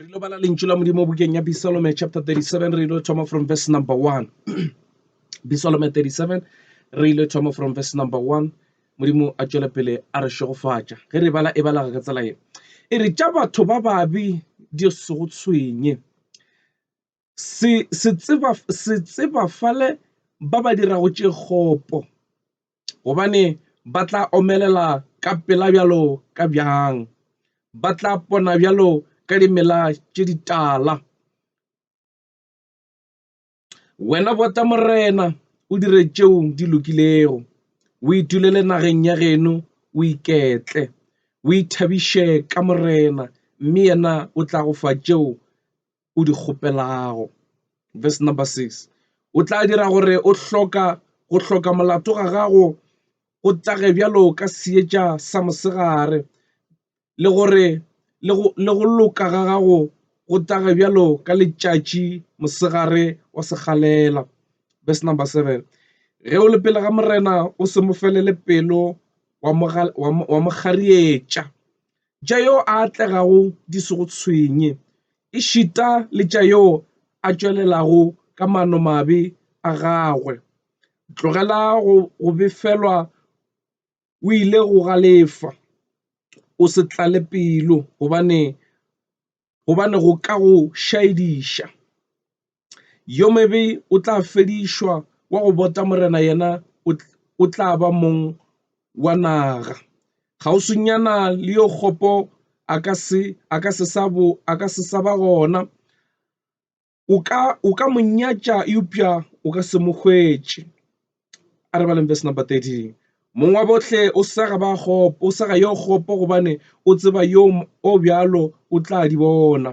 re lo bala lentšu la modimo bukeng ya bisalome chapter 37 re lo thoma from verse number 1 bisalome 37 re ile thoma from verse number 1 modimo a tšwele pele a re šegofatša ge re bala e balaga ka tsela ye e re tša batho ba babi di sego tshwenye Se, se tseba, se tseba fale ba ba dirago tše kgopo, gobane ba tla omelela ka pela bjalo ka bjang, ba tla pona bjalo ka dimela tše ditala. Wena bota Morena, o dire tšeo di lokilego, o itulele nageng ya geno, o iketle, o ithabiše ka Morena, mme yena o tla go fa tšeo o di kgopelago. Verse number 6. O tla dira gore o hloka go hloka molato ga gago go tage bjalo ka seetša sa mosegare le gore le go le go loka ga gago go tage bjalo ka letšatši mosegare wa segalela. Verse number 7. Ge o le pele ga Morena o se mo felele pelo wa mo wa mo garietša. tša yo a atlegago di se go tshwenye, ešita le tša yo a tšwelelago ka maanomabe a gagwe. Tlogela go befelwa o ile go galefa, o se tlale pelo, gobane gobane go ka go šaediša. Yo mobe o tla fedišwa, wa go bota morena yena o tla ba mong wa naga. Kgauswinyana le yo kgopo a ka se sa ba gona. o ka o ka mo nyatša eupša o ka se mo hwetše. A re baleng verse number 13. Mong wa bohle o sega ba kgopo, o sega yo kgopo gobane o tseba yo o bjalo o tla di bona.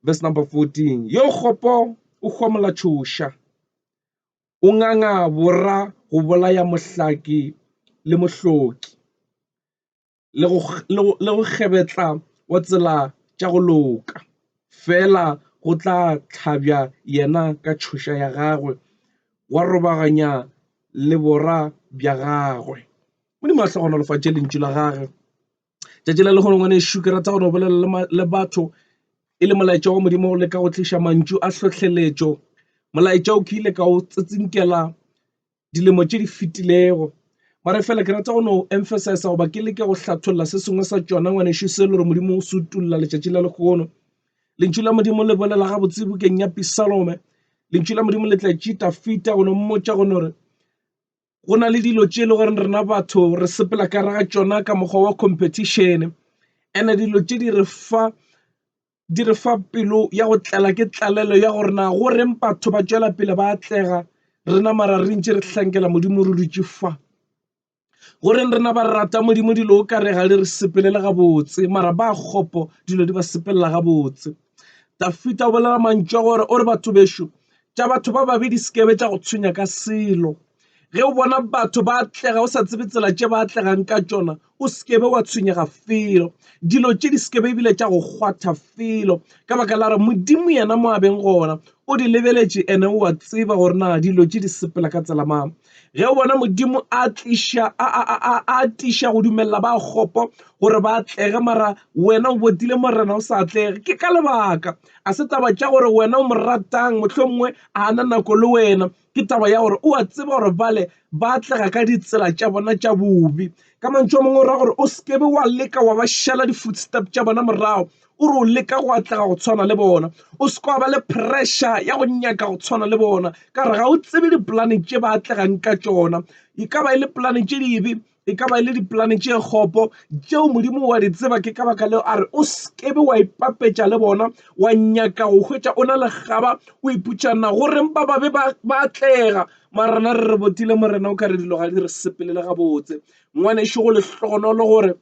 Verse number 14. Yo kgopo o hwamola tšhoša, o nganga bora go bolaya mohlaki le mohloki. le go kgebetla wa tsela tša go loka, fela go tla hlabja yena ka tšhoša ya gagwe, wa robaganya lebora bja gagwe. Modimo a hle a gonolofatše lentšu la gage tšatši la lehono ngwanešu, ke rata gore o bolelele le batho e le molaetša wa Modimo o leka go tliša mantšu a hlohleletšo, molaetša o ke ile ka o tsitsinkela. dilemo tše di fetilego mare fela ke rata go no emphasize goba ke leke go hlatholla se sengwe sa tšona ngwanešu se le gore modimo o se utulla letšatši la lekgono lentšu la modimo le bolela ga botse bukeng ya pisalome lentšu la modimo le tla tšita fita go no mmotša go no re go na le dilo tše e le goreng rena batho re sepela ka raga tšona ka mokgwa wa competition and dilo tše di re fa di re fa pelo ya go tlala ke tlalelo ya gore na go reng batho ba tšwela pele ba atlega rena mara re ntše re hlankela modimo re dutše fa go reng rena ba rata modimo dilo o kare ga le re sepelela gabotse mara ba kgopo dilo di ba sepelela gabotse dafita o bolela mantšu a gore o re batho bešo tša batho ba babe di sekebe tša go tshwenya ka selo ge o bona batho ba atlega o sa tsebe tsela tše ba atlegang ka tšona o sekebe wa tshwenyega felo dilo tše di sekebe ebile tša go kgwatha felo ka baka la re modimo yena mo abeng gona o di lebeletše ene o a tseba gore na dilo tše di sepela ka tsela mang ge o bona modimo a tliša a tiša go dumelela ba kgopo gore ba atlege mara wena o botile morena o sa atlege ke ka lebaka a se taba tša gore wena o mo ratang mohlomongwe a na nako le wena Ke taba ya gore o a tseba gore bale ba atlega ka ditsela tša bona tša bobe. Ka mantšu a mangwe o ra gore o seke be wa leka wa ba šala di-footstep tša bona morago. O re o leka go atlega go tshwana le bona. O seke wa ba le pressure ya go nyaka go tshwana le bona ka gore ga o tsebe dipolane tše ba atlegang ka tšona. E ka ba e le polane tše dibe e ka ba e le dipolane tše kgopo tšeo Modimo wa di tseba. Ke ka baka leo a re o sekebe wa ipapetša le bona, wa nyaka go hwetša o na le kgaba o iputša na go reng ba babe ba ba atlega. Mara rena re re botile Morena o ka re dilo ga di re sepelele gabotse. Ngwanešu go lehlogonolo gore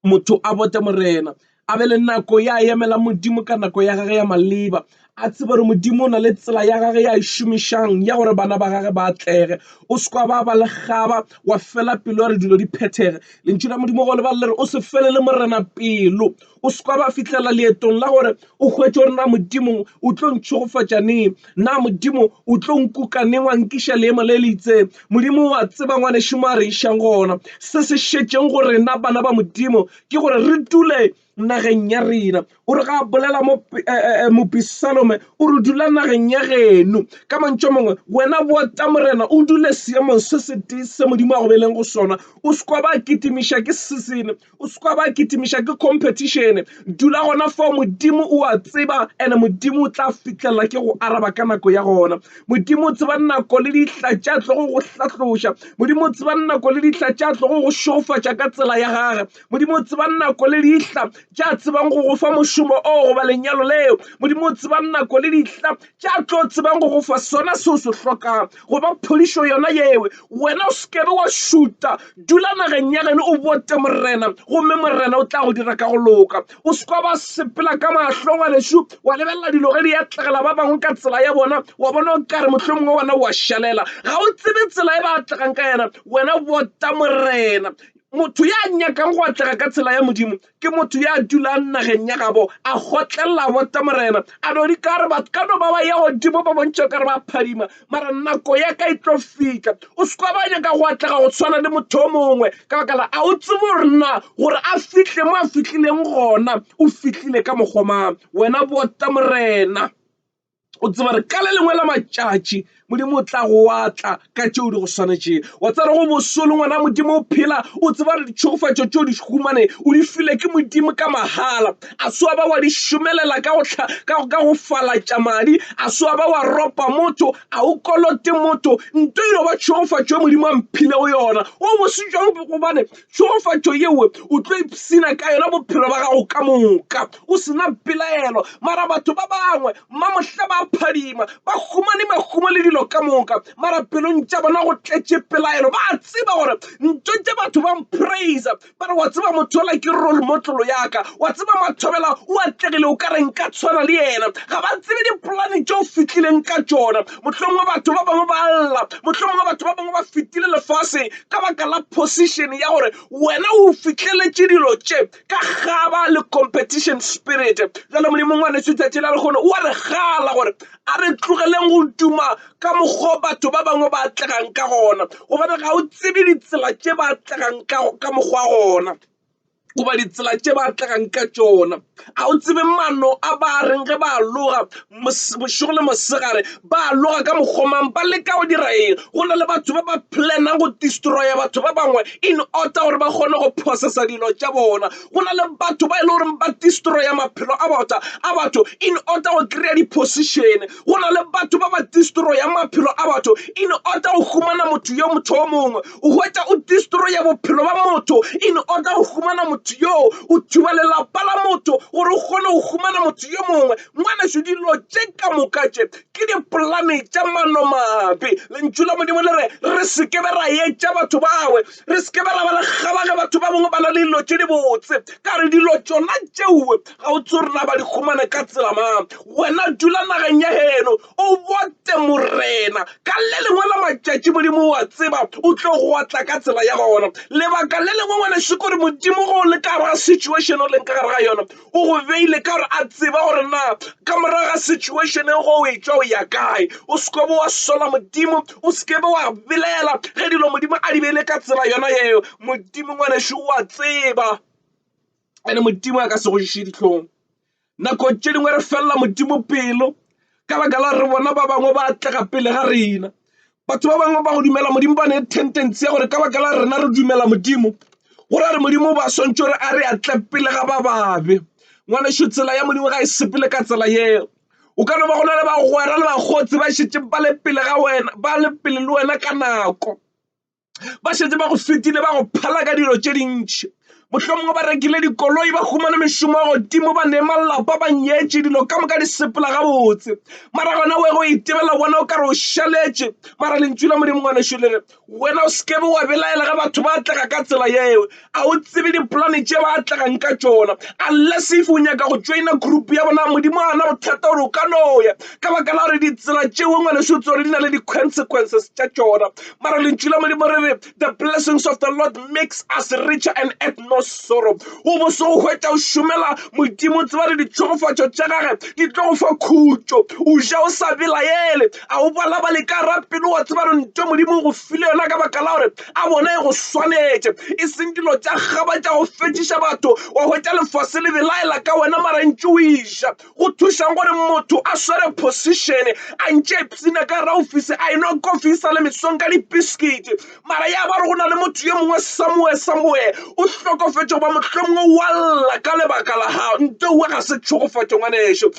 motho a bote Morena, a be le nako ya emela Modimo ka nako ya gage ya maleba, a tsebe gore Modimo o na le tsela ya gage ya e šomišang ya gore bana ba gage ba atlege. O se kwa ba ba le kgaba wa fela pelo ya re dilo di phethege. Lentšu la Modimo go lebalela re o se felele Morena pelo, o se kwa ba fihlelela leetong la gore O hwetše gore na Modimo o tlo ntšhogofatša neng, na Modimo o tlo nkuka neng wa nkiša leemo le le itseng. Modimo o a tseba ngwanešu mo a re išang gona. Se se šetšeng go rena bana ba Modimo ke gore re dule nageng ya rena. O re ga a bolela mo mopi Salome, o re, Dula nageng ya geno. Ka mantšu a mangwe, wena bota Morena o dule seemong se setee se Modimo a go beileng go sona. O se kwa ba kitimiša ke season, O se ka ba kitimiša ke competition. Dula gona fao, Modimo o a tseba and Modimo o tla fihlelela ke go araba ka nako ya gona. Modimo o tseba nako le dihla tša tlogo go hlatloša. Modimo o tseba nako le dihla tša tlogo go šofatša ka tsela ya gage. Modimo o tseba nako le dihla tša tsebang go go fa mošomo o goba lenyalo leo. Modimo o tseba nako le dihla tša tlo tsebang go go fa sona se o se hlokang goba phodišo yona yewe wena o sekebe wa šuta dula nageng ya geno o bote morena gomme morena o tla go dira ka go loka o sekwa ba sepela ka mahlo ngwanešu wa lebelela dilo ge di atlegela ba bangwe ka tsela ya bona wa bona o kare mohlho mongwe wona wa šalela ga o tsebe tsela e ba atlegang ka yena wena bota morena motho ya nyakang go atlega ka tsela ya modimo Ke motho ya dulang nageng ya gabo, a gotlelela bote Morena, a no di ka re batho ka no ba ba ya godimo ba bontšha ka re ba phadima, mara nako ya ka e tlo fihla. O se kwa ba nyaka go atlega go tshwana le motho o mongwe, ka baka la a o tsebe gore na gore a fihle mo a fihlileng gona o fihlile ka mokgwa mang. Wena bote Morena. o tseba re ka le lengwe la matšatši modimo o tla go watla ka tšeo di go swanetšeng wa tsere go bosolo ngwana modimo o phela o tseba re ditšhogofatšo tšeo di humane o di file ke modimo ka mahala a soa ba wa di šomelela ka go falatša madi a soa ba wa ropa motho a o kolote motho nto eno ba tšhogofatšo e modimo a mphilego yona o bositšwang gobane Tšhegofatšo yeo o tlo ipshina ka yona bophelo ba gago ka moka o se na pelaelo. Mara batho ba bangwe mamohla ba phadima, ba humane mahumo le dilo ka moka, mara pelong tša bona go tletše pelaelo. Ba a tseba gore ntho tše batho ba mpraisa, ba re, Wa tseba motho yola ke rolmotlolo ya ka. Wa tseba Mathobela o atlegile, o ka re nka tshwana le yena. Ga ba tsebe dipolane tše o fihlileng ka tšona. Mohlomongwe batho ba bangwe ba a lla, mohlomongwe batho ba bangwe ba fetile lefaseng, ka baka la position ya gore wena o fihleletše dilo tše ka gaba le competition spirit jale modimo ngwaneso tšatši la lekgono o a re gala gore a re tlogeleng go duma ka mokgwa batho ba bangwe ba atlegang ka gona gobane ga o tsebe ditsela tše ba atlegang ka mokgwa gona goba ditsela tše ba atlegang ka tšona. A o tsebe mano a ba reng ge ba loga bošego le mosegare? Ba loga ka mokgwa mang? Ba leka go dira eng? Go na le batho ba ba plan-ang go destroya batho ba bangwe in order gore ba kgone go processa dilo tša bona. Go na le batho ba e le goreng ba destroya maphelo a bota a batho in order go kry-a di-position. Go na le batho ba ba destroyang maphelo a batho in order go humana motho yo motho o mongwe. O hwetša o destroya bophelo ba motho in order go humana motho yoo. O thuba lelapa la motho gore o kgone go humana motho yo mongwe. Ngwaneso, dilo tše ka moka tše ke dipolane tša manomabe. Lentšu la Modimo le re re se ke be ra etša batho bawe, re se ke be ra ba le kgaba ge batho ba bangwe ba na le dilo tše dibotse. Ka re dilo tšona tšeo ga o tsebe gore na ba di humane ka tsela mang. Wena dula nageng ya heno. O bote, Morena. Ka le lengwe la matšatši, Modimo, o a tseba, o tlo go tla ka tsela ya gona. Lebaka le lengwe, ngwanešu, kore Modimo go le ka gare ga situation o leng ka gare ga yona, o go beile ka gore a tseba gore na ka morago ga situation e go o e tšwa o ya kae. O se kobe wa sola, Modimo, o se kebe wa belaela ge dilo Modimo a di beile ka tsela yona yeo. Modimo, ngwanešu, o a tseba, ene Modimo a ka se go ješe dihlong. Nako tše dingwe re felela Modimo pelo ka baka la re bona ba bangwe ba atlega pele ga rena. Batho ba bangwe ba go dumela Modimo ba ne tendency ya gore ka baka la rena re dumela Modimo go ra re Modimo ba swantšwe gore a re atle pele ga ba babe. Ngwanešu tsela ya Modimo ga e sepele ka tsela yeo. O ka no ba go na le bagwera le bakgotsi ba šetše ba le pele ga wena ba le pele le wena ka nako. ba šetse ba go fetile ba go phala ka dilo tše dintšhi mohlomongwe ba rekile dikoloi ba humane mešomo ya godimo ba nema lelapa ba nyetše dilo ka moka di sepela gabotse mara gona we go itebela bona o ka re o šaletše mara lentšu la modimo ngwanešu le re wena o sekebe wa belaela ge batho ba tlega ka tsela yeo a o tsebe dipolane tše ba atlegang ka tšona unless if o nyaka go joina group ya bona modimo a na bothata gore o ka noya ka baka la gore ditsela tšeo ngwaneso tse gore di na le di-consequences tša tšona mara lentšu la modimo re re the blessings of the lord makes us richer and at no sorrow o bo se o hwetša o šomela modimo tseba re ditšhogofatšo tša gage di tlo go fa khutšo o ja o sa belaele a o balabale ka rapelo wa tseba re nto modimo o go file yona ka baka la gore a bona e go swanetše e seng dilo tša kgaba tša go fetšiša batho wa hwetša lefase le belaela ka wena marantši o iša go thušang gore motho a swere position a ntše psina ka ra ofisi a enwa kofi e sa le mesong ka dipiskiti mara ya ba re go na le motho ye mongwe samoe samoe o hlokofetša goba mohlomongwe wa lla ka lebaka la gago nto uwe ga se tšhogofatšo ngwanešo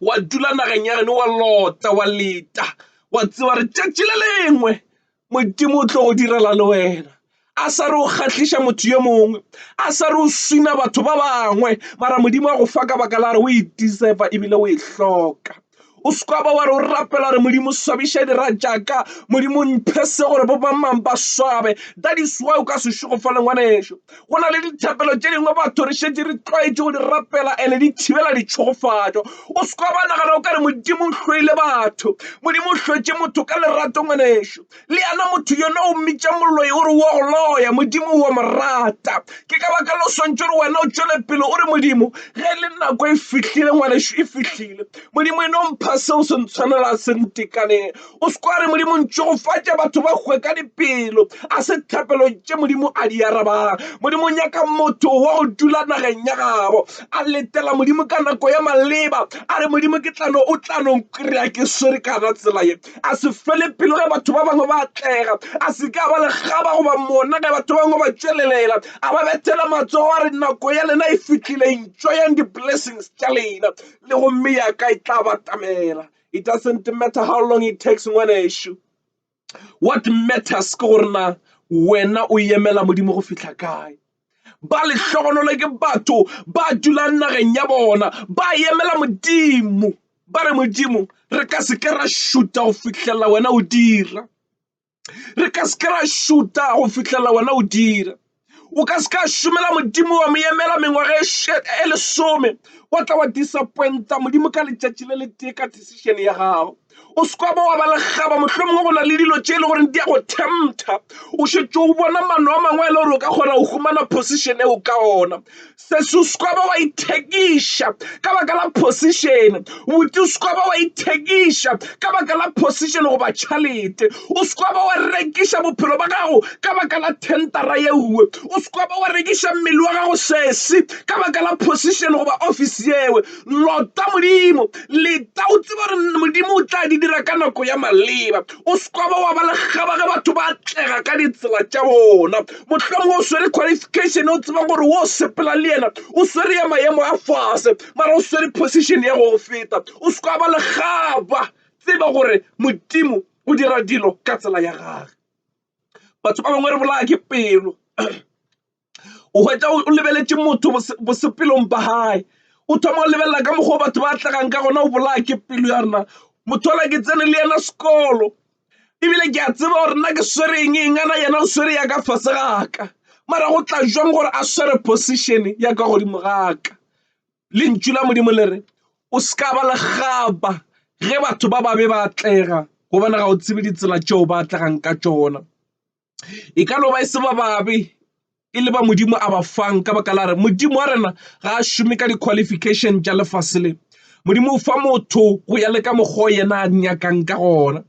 wa dula nageng ya geno wa lota wa leta wa tseba re tšatši le lengwe modimo o tlo go direla le wena a sa re o kgahliša motho yo mongwe a sa re o swina batho ba bangwe mara modimo wa go fa ka baka la re o e deserva ebile o e hloka o seka ba wa re o rapela gore modimo swabiša dira jaaka modimo mphe se gore bo bamang ba swabe that is why o ka se šogofale ngwaneso Go na le dithapelo tše dingwe batho re šetše re tlwaetše go di rapela and-e di thibela ditšhogofatšo. O se ka ba nagana o ka re Modimo o hloile batho. Modimo o hlotše motho ka lerato ngwanešu. Le yena motho yona o mmitša moloi o re o a go loya, Modimo o a mo rata. Ke ka baka leo o swantšwe gore wena o tšwele pele o re, Modimo, ge e le nako e fihlile ngwanešu, e fihlile. Modimo e no mpha seo se ntshwanelang, se ntekaneng. O se kwa re Modimo ntšhogofatša batho ba hwe ka dipelo. A se thapelo tše Modimo a di arabang. Modimo nyaka motho wa go dula nageng ya gabo a letela Modimo ka nako ya maleba a re Modimo ke tlano o tlano nkrea ke swere kana tsela ye. A se fele pelo ge batho ba bangwe ba atlega. A se ka ba lekgaba goba mona ge batho ba bangwe ba tšwelelela a ba bethela matsogo a re nako ya lena e fihlile enjoyang di-blessings tša lena le gomme ya ka e tla batamela It doesn't matter how long it takes ngwanešu. What matters ke gore na wena o yemela modimo go fihla kae ba lehlogonolo ke batho ba dulang nageng ya bona ba yemela modimo ba re modimo re ka se ke ra šuta go fihlelela wena o dira re ka se ke ra šuta go fitlhela wena o dira o ka se ka šomela modimo wa mo emela mengwaga e lesome wa tla wa disappointa modimo ka letšatši le le tee ka decision ya gago o seka ba wa ba legaba mohlomongwe go na le dilo tše e le goreng di ya go tempta o šetše o bona mano a mangwe e le gore o ka kgona go humana position eo ka ona Sesus ka ba wa ithekiša ka baka la phosišene. Butus ka ba wa ithekiša ka baka la phosišene goba tšhalete. O se ka ba wa rekiša bophelo ba gago ka baka la thentara ye nngwe. O se ka ba wa rekiša mmele wa gago sesi ka baka la phosišene goba ofisi yewe. Lota Modimo. Leta o tseba gore Modimo o tla di dira ka nako ya maleba. O se ka ba wa ba lekgaba ge batho ba atlega ka ditsela tša bona. mohlomongwe o swere qualification o tseba gore o sepela le yena o swere ya maemo a fase mara o swere position ya go feta o se ka ba legaba tseba gore modimo o dira dilo ka tsela ya gage batho ba bangwe re bolaya ke pelo o hwetša o lebeletše motho bosepelong ba gae o thoma o lebelela ka mokgwa batho ba tlagang ka gona o bolaya ke pelo ya rena motho ola ke tsene le yena sekolo ebile ke a tseba gore nna ke swere eng eng ana yena o swere ya ka fase ga ka mara go tla jwang gore a swere position ya ka godimo ga ka lentšu la modimo le re o se ka ba legaba ge batho ba babe ba atlega gobane ga o tsebe ditsela tšeo ba atlegang ka tšona E ka no ba e se ba babe, e le ba Modimo a ba fang ka baka la re Modimo wa rena ga a šome ka di-qualification tša lefase le. Modimo o fa motho go ya le ka mokgwa yena a nyakang ka gona.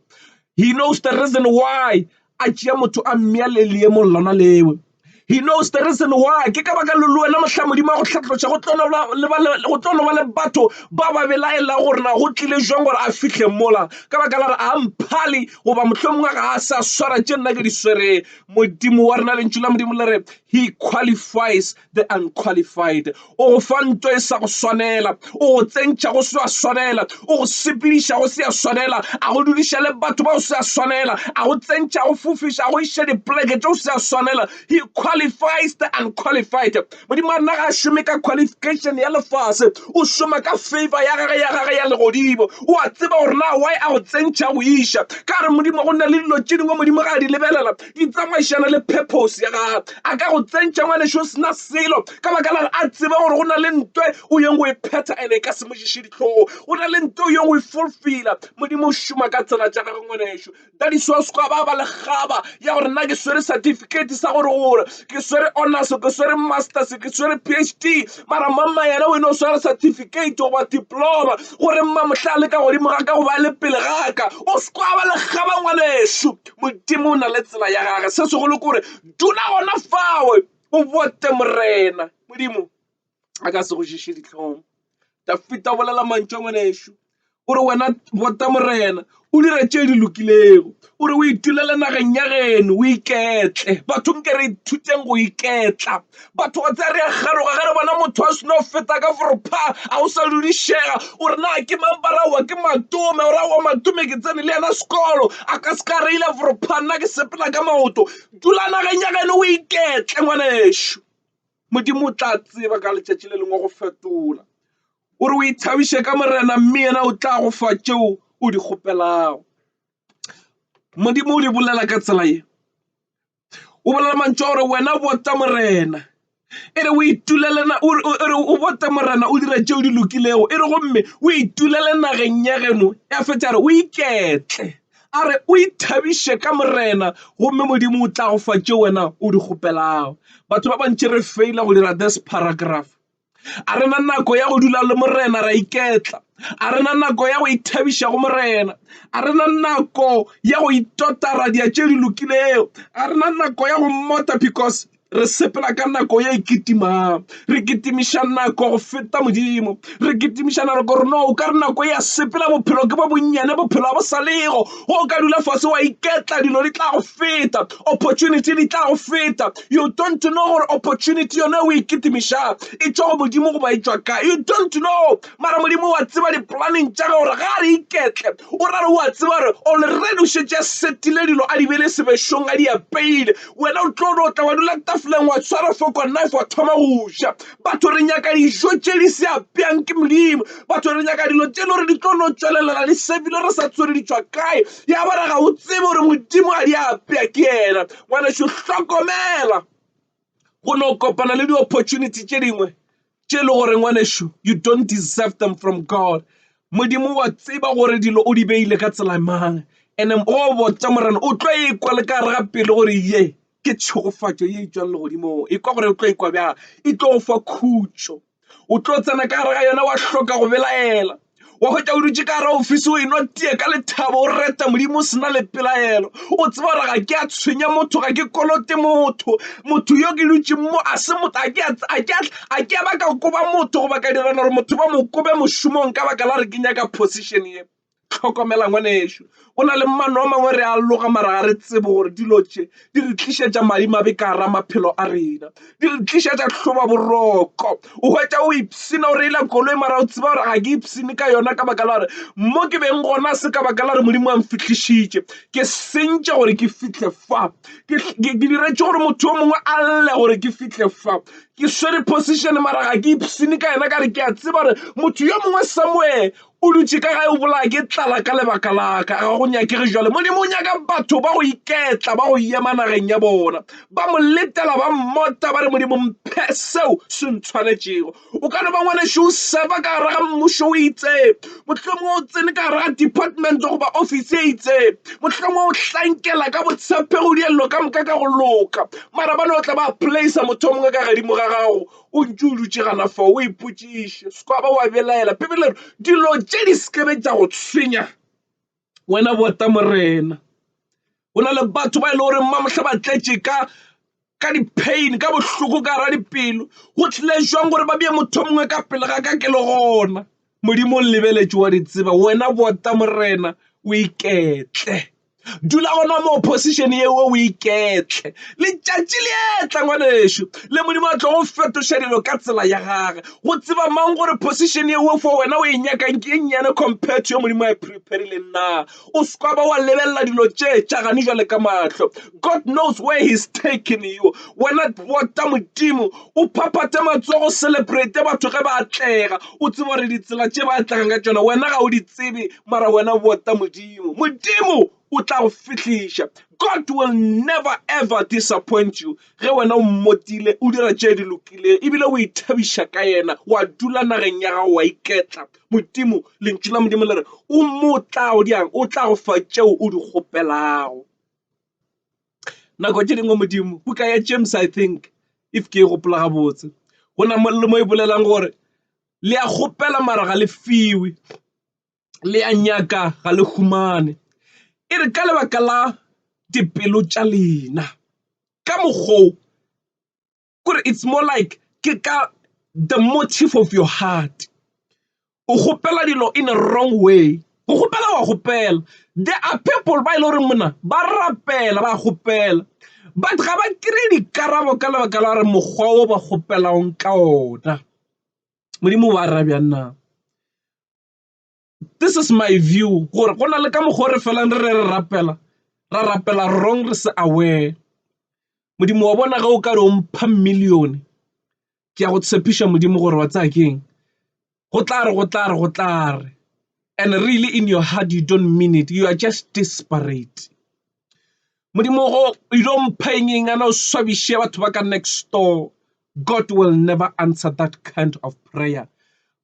He knows the reason why a tšea motho a mmea le leemong lona lewe. He knows the reason why ke ka baka le le wena mohla Modimo a go hlatloša go tlo no ba le batho ba ba belaela gore na go tlile jwang gore a fihle mola ka baka la re a mphale goba mohlomongwe ga a sa swara tše nna ke di swereng modimo wa rena lentšu la modimo le re he qualifies the unqualified o go fa nto e sa go swanela o go tsentšha go se a swanela o go sepediša go se a swanela a go dudiša le batho ba o se a swanela a go tsentšha go fofiša go iša dipoleke tše o se a swanela he qualifies the unqualified Modimo a nna ga a šome ka qualification ya lefase, o šoma ka favor ya gage ya gage ya legodimo. O a tseba gore na why a go tsentšha go iša ka gore Modimo go nna le dilo tše dingwe Modimo ga a di lebelela di tsamaišana le purpose ya gage. A ka go tsentšha ngwaneše o sena selo ka baka la a tseba gore go na le ntwe o yeng go e phetha and e ka se mo ditlhogo. Go na le ntwe o yeng go e fulfilla. Modimo o šoma ka tsela tša gagwe ngwaneše. ka di-source gwa ba ba le kgaba ya gore nna ke swere certificate sa gore gore ke swere honors ke swere masters ke swere phd mara mamma yena o e no swere certificate goba diploma gore mma mohlale ka godimo ga ka go ba le pele ga ka o sekwa ba le kgaba ngwanešu modimo o na le tsela ya gage se segolo ke gore dula gona fawe o bote morena modimo a ka se go šiše dihlong dafita o bolela mantšu a ngwanešu o re wena bota morena o dira tše di lokilego o re o itulele nageng ya geno o iketle batho nke re ithuteng go iketla batho go tsa re ya kgaroga ge re bona motho a seno feta ka forepha a o sa dudišega o re na ke mamparawa ke matome o ra wa matome ke tsene le yena sekolo a ka se ka re ile forepha nna ke sepela ka maoto dula nageng ya geno o iketle ngwanešu Modimo o tla tseba ka letšatši le lengwe go fetola. O re o ithabiše ka Morena mme yena o tla go fa tšeo o di kgopelago. Modimo o di bolela ka tsela ye. O bolela mantšu a gore wena o bota Morena. E re o itulele na o re o bote Morena o dira tšeo di lokilego. E re gomme o itulele nageng ya geno ya fetša re o iketle. A re, O ithabiše ka Morena, gomme Modimo o tla go fa tšeo wena o di kgopelago. Batho ba bantši re feila go dira this paragraph. A re na nako ya go dula le Morena ra iketla. A re na nako ya go ithabiša go Morena. A re na nako ya go itota ra dia tše di lokilego. A re na nako ya go mmota because Re sepela ka nako ye e kitimang. Re kitimiša nako go feta Modimo. Re kitimiša nako rena o ka re nako ya sepela bophelo ke bo bonnyane bophelo a bo sa lego. O ka dula fase wa iketla dilo di tla go feta. Opportunity di tla go feta. You don't know gore opportunity yone o e kitimišang e tšwa go Modimo goba e tšwa kae. You don't know. Mara Modimo wa tseba di-planning tša ge gore ga re iketle O ra gore o a tseba gore already o šetše a setile dilo a di bele sebešong a di apeile wena o tlo no tla wa dula tafoleng wa tshwara foko knife wa thoma go ja batho re nyaka dijo tše di se apeang ke modimo batho re nyaka dilo tše le gore di tlo no tswelelela di sepile re sa tswere di tswa kae ya bara ga o tsebe gore modimo a di apea ke yena ngwaneso hlokomela go no kopana le di-opportunity tše dingwe tše e le gore ngwanešu you don't deserve them from god modimo wa tseba gore dilo o di beile ka tsela mang and-e go botsa morena o tlo ekwa le ka gare ga pelo gore ye ke tšhegofatšo ye e tswang legodimong e kwa gore o tlo ekwa bjang e tlo go fa khutšo o tlo tsena ka gare ga yona wa hloka go belaela wa hwetša o dutše ka gare ofisi o enwa tie ka lethabo o reta modimo o sena le pelaelo o tseba gore ga ke a tshwenya motho ga ke kolote motho motho yo ke dutšeng mo a se motho a ke a ba ka koba motho goba ka dirana gore motho ba mo kobe mošomong ka baka la re ke nyaka position ye Hlokomela ngwanešu, go na le mano a mangwe re a loga mara ga re tsebe gore dilo tše di re tlišetša madimabe ka gara maphelo a rena, di re tlišetša hloba boroko. O hwetša o ipshina o reila koloi mara o tseba gore ga ke ipshine ka yona ka baka la gore mo ke beng gona se ka baka la gore Modimo a mfihlišitše. Ke sentše gore ke fihle fa, ke diretše gore motho yo mongwe a lle gore ke fihle fa. Ke swere position mara ga ke ipshine ka yena ka re ke a tseba gore motho yo mongwe somewhere o dutše ka gae o bolaya ke tlala ka lebaka laka ga go nyakege jale modimo o nyaka batho ba go iketla ba go yema nageng ya bona ba mo letela ba mmota ba re modimo mphe seo se ntshwanetšego o ka no ba ngwaneso o seba ka gare ga mmušo o itseng mohlomong o tsene ka gare ga department goba office e itseng mohlomong o hlankela ka botshephe go dielelo ka moka ka go loka mara ba no tla ba place motho o mongwe ka gadimo ga gago o ntse o dutše gana fa o ipotšiše se ka ba wa belaela bibele re dilo tše di sekebe tša go tshwenya wena bota morena go na le batho ba e le gore mamotlha ba tletše ka ka di-pain ka bohloko ka gara dipelo go tlile jwang gore ba bee motho o mongwe ka pele ga ka ke le gona modimo o lebeletše wa di tseba wena bota morena o iketle dula gona moo position yeo o iketle letšatši le etla ngwanešu le modimo a tlo go fetoša dilo ka tsela ya gage go tseba mang gore position yeo fo wena o e nyakang ke e nnyane compared to yo modimo a e preparileng na o sekwa ba wa lebelela dilo tše tšagane jale ka mahlo god knows where he's taking you wena bota modimo o phaphate matsogo celebrate batho ge ba atlega o tseba gore ditsela tše ba atlegang ka tšona wena ga o di tsebe mara wena bota modimo modimo o tla go fihliša god will never ever disappoint you ge wena o mmotile o dira tše di lokileng ebile o ithabiša ka yena wa dula nageng ya gago wa iketla modimo lentšu la modimo le re o motlago diang o tla go fa tšeo o di kgopelago nako tše dingwe modimo buka ya james i think if ke e gopola gabotse go na le mo e bolelang gore Le a kgopela mara ga le fiwe, le a nyaka ga le humane. E re ka lebaka la dipelo tša lena. Ka mokgwa o kore it's more like ke ka the motive of your heart. O kgopela dilo in a wrong way. Go kgopela wa kgopela. There are people ba e le goreng mona ba rapela ba kgopela but ga ba kry-e dikarabo ka lebaka la gore mokgwa o ba kgopelang ka ona. Modimo wa ra bjang na? This is my view gore go na le ka mokgwa o re felang re re rapela, ra rapela wrong re se aware. Modimo wa bona ge o ka re o mpha million, ke a go tshepiša Modimo gore wa tseba keng? Go tla re, go tla re, go tla re. And really in your heart you don't mean it, you are just desperate. Modimo go you don't mpha eng eng ana o swabiše batho ba ka next door. God will never answer that kind of prayer.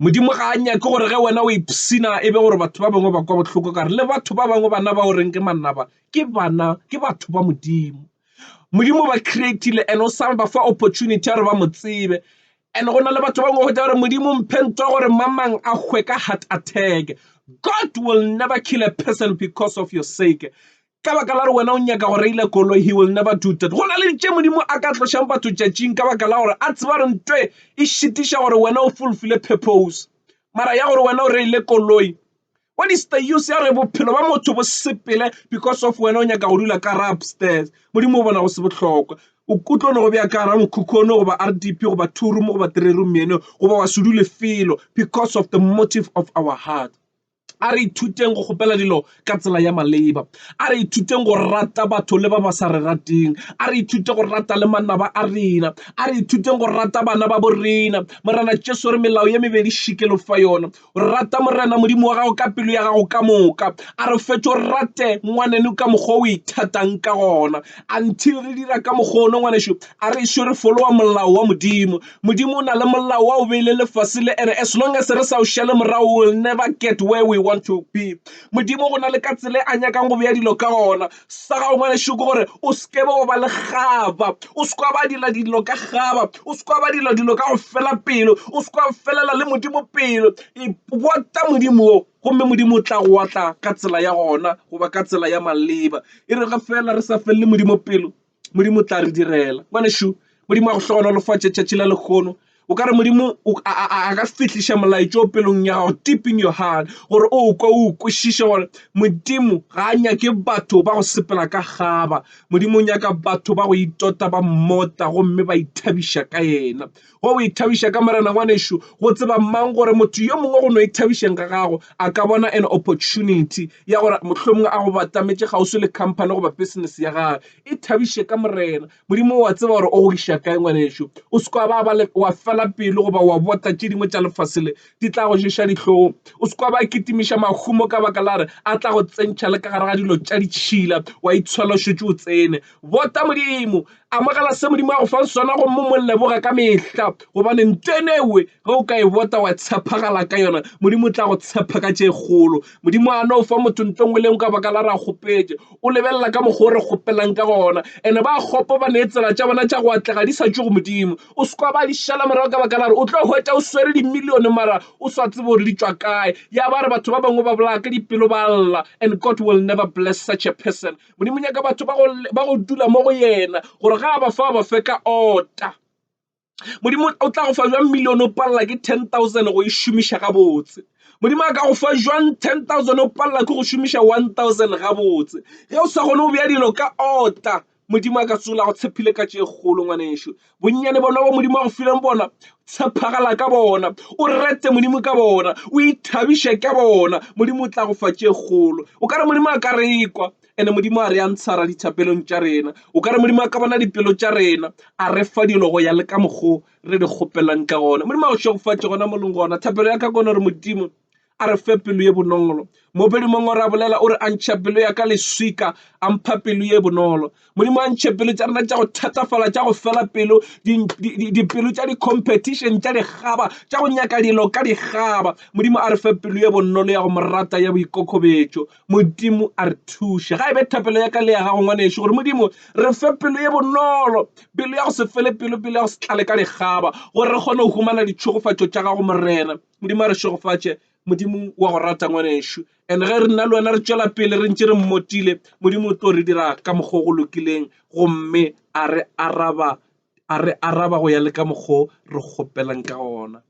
Modimo ga a nyake gore ge wena o ipsina e be gore batho ba bangwe ba kwa bohloko kare le batho ba bangwe bana ba o reng ke manaba ke bana ke batho ba Modimo. Modimo ba creatile and o sa ba fa opportunity ya gore ba mo tsebe. And go na le batho ba bangwe go tla gore Modimo mphe ntwa gore mamang a hwe ka heart attack. God will never kill a person because of your sake. Ka baka la gore wena o nyaka go reila koloi, he will never do that. Go na le tše Modimo a ka tlošang batho tšatšing ka baka la gore a tseba gore ntwe e šitiša gore wena o fulfile purpose. Mara ya gore wena o reile koloi, What is the use ya re bophelo ba motho bo sepele because of wena o nyaka go dula ka ra upstairs. Modimo o bona go se bohlokwa. O tlo no go bja ka ra mokhukhu ono goba RDP goba two room goba three room eno goba wa se dule felo because of the motive of our heart. A re ithuteng go kgopela dilo ka tsela ya maleba. A re ithuteng go rata batho le ba ba sa re rateng. A re ithute go rata le manaba a rena. A re ithuteng go rata bana ba bo rena. Morena Jesu re melao ye mebedi šikelo fa yona. Rata Morena Modimo wa gago ka pelo ya gago ka moka. A re fetše o rate ngwaneno ka mokgwa o ithatang ka gona. Until re dira ka mokgwa ono ngwanešu, a re ešo re folowa molao wa Modimo. Modimo o na le molao wa o beile lefase le, and as long as re sa o šale morago, we'll never get where we want to be. Modimo go na le ka tsela e a nyakang go bea dilo ka gona. sa gago ngwanešu ke gore o seke ba ba le gaba o se kwa ba dira dilo ka gaba o se kwa ba dira dilo ka go fela pelo o se kwa felela le modimo pelo e bota modimo o gomme modimo o tla go otla ka tsela ya gona goba ka tsela ya maleba e re ge fela re sa felele modimo pelo Modimo o tla re direla. Bona šo, Modimo a go hlogonolofatše tšatši la lekgono. O ka re Modimo a ka fihliša molaetša o pelong ya gago deep in your heart gore o kwe o kwešiše gore Modimo ga a nyake batho ba go sepela ka gaba. Modimo o nyaka batho ba go itota ba mmota gomme ba ithabiša ka yena. Wa go ithabiša ka Morena ngwanešu, go tseba mang gore motho yo mongwe go no ithabišeng ga gago a ka bona an opportunity ya gore mohlomongwe a go batametše kgauswi le company goba business ya gage. Ithabiše ka Morena. Modimo o a tseba gore o go iša kae ngwanešu. O se kwa ba ba le wa fela pelo goba wa bota tše dingwe tša lefase le di tla go ješa dihlong. O se kwa ba kitimiša mahumo ka baka la re a tla go tsentšha le ka gare ga dilo tša ditšhila wa itshwela o šetše o tsene. Bota Modimo Amogela se Modimo a go fang sona gomme mo leboga ka mehla gobane nto eno ewe ge o ka e bota wa tshepagala ka yona Modimo o tla go tshepa ka tše kgolo. Modimo a no fa motho nto nngwe le nngwe ka baka la ra kgopetše. O lebelela ka mokgwa o re kgopelang ka gona ene ba kgopo ba ne tsela tša bona tša go atlega di sa tšwe go Modimo. O se kwa ba di šala morago ka baka la re o tlo hwetša o swere dimilione mara o sa tsebe gore di tšwa kae. Ya ba re batho ba bangwe ba bolaya ka dipelo ba lla and God will never bless such a person. Modimo o nyaka batho ba go dula mo go yena gore ga a ba fa ba fe ka ota. Modimo o tla go fa jwang million o palela ke ten thousand go e šomiša gabotse? Modimo a ka go fa jwang ten thousand o palela ke go šomiša one thousand gabotse? Ge o sa kgone go bea dilo ka ota Modimo a ka se go tshepile ka tše kgolo ngwanešu. bonnyane bona bo modimo a go fileng bona tshepagala ka bona o rete modimo ka bona o ithabiše ka bona modimo o tla go fa tše kgolo o ka re modimo a ka re kwa ene modimo a re a ntshara dithapelong tša rena o ka re modimo a ka bona dipelo tša rena a re fa dilo go ya le ka mokgo re di kgopelang ka gona modimo a go šegofatše gona moleng gona thapelo ya ka kone gore modimo a re fe pelo ye bonolo mopedi mongwe ra bolela o re a ntšha pelo ya ka leswika a mpha pelo ye bonolo modimo a ntšhe pelo tša rena tša go thatafala tša go fela pelo dipelo tša di-competition tša dikgaba tša go nyaka dilo ka dikgaba modimo a re fe pelo ye bonolo ya go morata ya boikokobetšo modimo a re thuše ga e be thapelo ya ka le ya gago ngwaneso gore modimo re fe pelo ye bonolo pelo ya go se fele pelo pelo ya go se tlale ka dikgaba gore re kgone go humana ditšhogofatšo tša gago morena Modimo a re šegofatše. Modimo wa go rata ngwanešu, and ge re nna le wena re tšwela pele re ntše re mmotile, Modimo o tlo re dira ka mokgwa o go lokileng gomme a re araba, a re araba go ya le ka mokgwa o re kgopelang ka gona.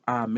Amen.